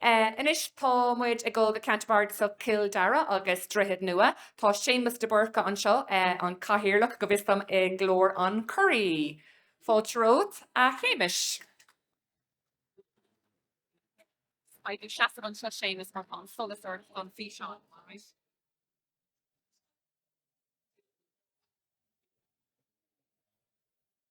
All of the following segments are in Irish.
Anois tá muid ag dul go ceantar bardasach Chill Dara agus Droichead Nua. Tá Séamas de Búrca anseo, an cathaoirleach, go bhfios dom, i nGlór an Churraigh. Fáilte romhat, a Shéamais. Faigh do sheasamh anseo, Séamas, mar tá an solas ort don fhíseán, all right.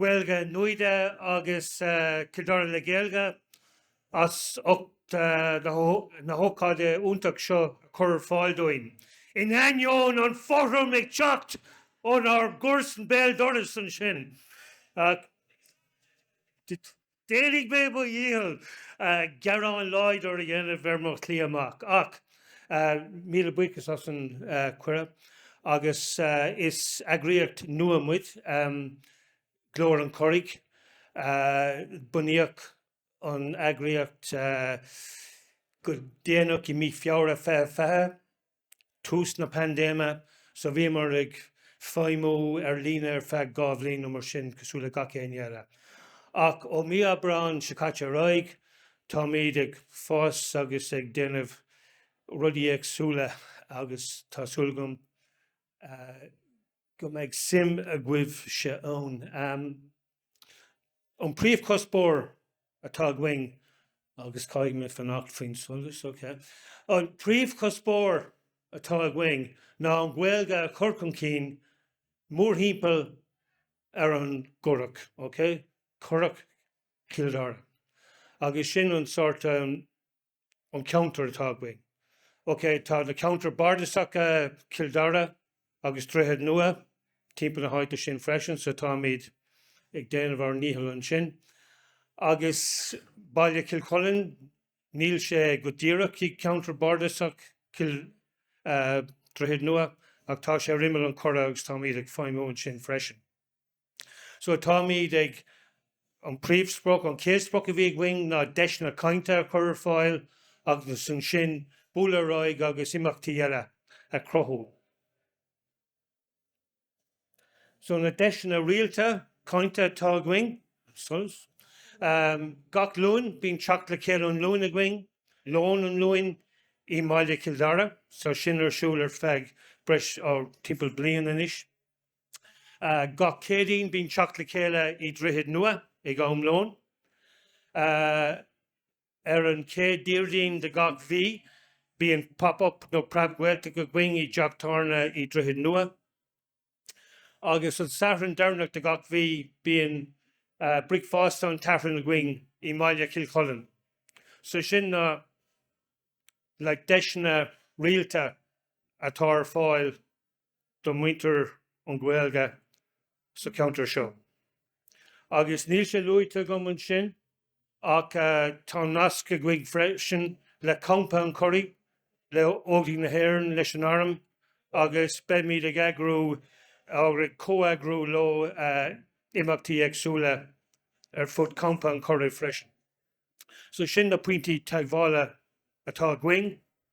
Gaeilge Nuada agus Cill Dara le Gaeilge as ucht na hócáide iontach seo a chur ar fáil dúinn. In ainneoin an fothram ag teacht ónár gcomharsan béal dorais ansin, Déanfaidh mé mo dhícheall gearán láidir a dhéanamh ar mo shlí amach, ach míle buíochas as an gcuireadh agus is eagraíocht nua muid, Glór an Churraigh. Bunaíodh an eagraíocht go déanach i mí Feabhra 2020. tús na paindéime, so bhíomar ag feidhmiú ar líne ar feadh dhá bhliain nó mar sin, cosúil le gach éinne eile. Ach ó mí Aibreán seo caite ar aghaidh, táimid ag fás agus ag déanamh rudaí éagsúla agus tá súil agam, go mbeidh suim agaibhse ann. An príomhchuspóir atá againn, agus caithfidh mé fanacht faoin solas, ok, an príomhchuspóir atá againn ná an Ghaeilge a chur chun cinn mórthimpeall ar an gCurrach, ok, Currach Chill Dara, agus sin an sórt, an ceantar atá againn. Ok, tá na ceantair bardasacha Cill Dara agus Droichead Nua timpeall na háite sin freisin, so táimid ag déanamh ár ndícheall ansin. Agus Baile Chill Chuilinn, níl sé go díreach i gceantar bardasach Chill Droichead Nua ach tá sé ar imeall an Churraigh agus táimid ag feidhmiú ansin freisin. So táimid ag, an príomhsprioc, an chéad sprioc a bhí againn ná deiseanna cainte a chur ar fáil agus ansin bualadh ar aghaidh agus imeachtaí eile a chruthú. So na deiseanna rialta cainte atá againn, gach Luan, bíonn teacht le chéile lón Luain againn, lón an Luain i mbaile Chill Dara, so sin ar siúl ar feadh breis, oh, timpeall bliain anois. Gach Céadaoin bíonn teacht le chéile i Droichead Nua ag am lóin. Ar an chéad Déardaoin de gach mhí bíonn Pop Up nó Preab-Ghaeltacht againn i dteach tábhairne i Droichead Nua. Agus an Satharn deireanach de gach mhí bíonn Bricfeasta an tSathairn againn i mbaile Chill Chuilinn. So sin na like deiseanna rialta atá ar fáil do mhuintir na Gaeilge sa cheantar seo. Agus níl sé luaite agam ansin ach tá nasc againn freisin le Campa an Churraigh, le Óglaigh na hÉireann, leis an Arm agus beimid ag eagrú nó ag comheagrú leo imeachtaí éagsúla ar fud Campa an Churraigh freisin. So sin na pointí teagmhála atá againn.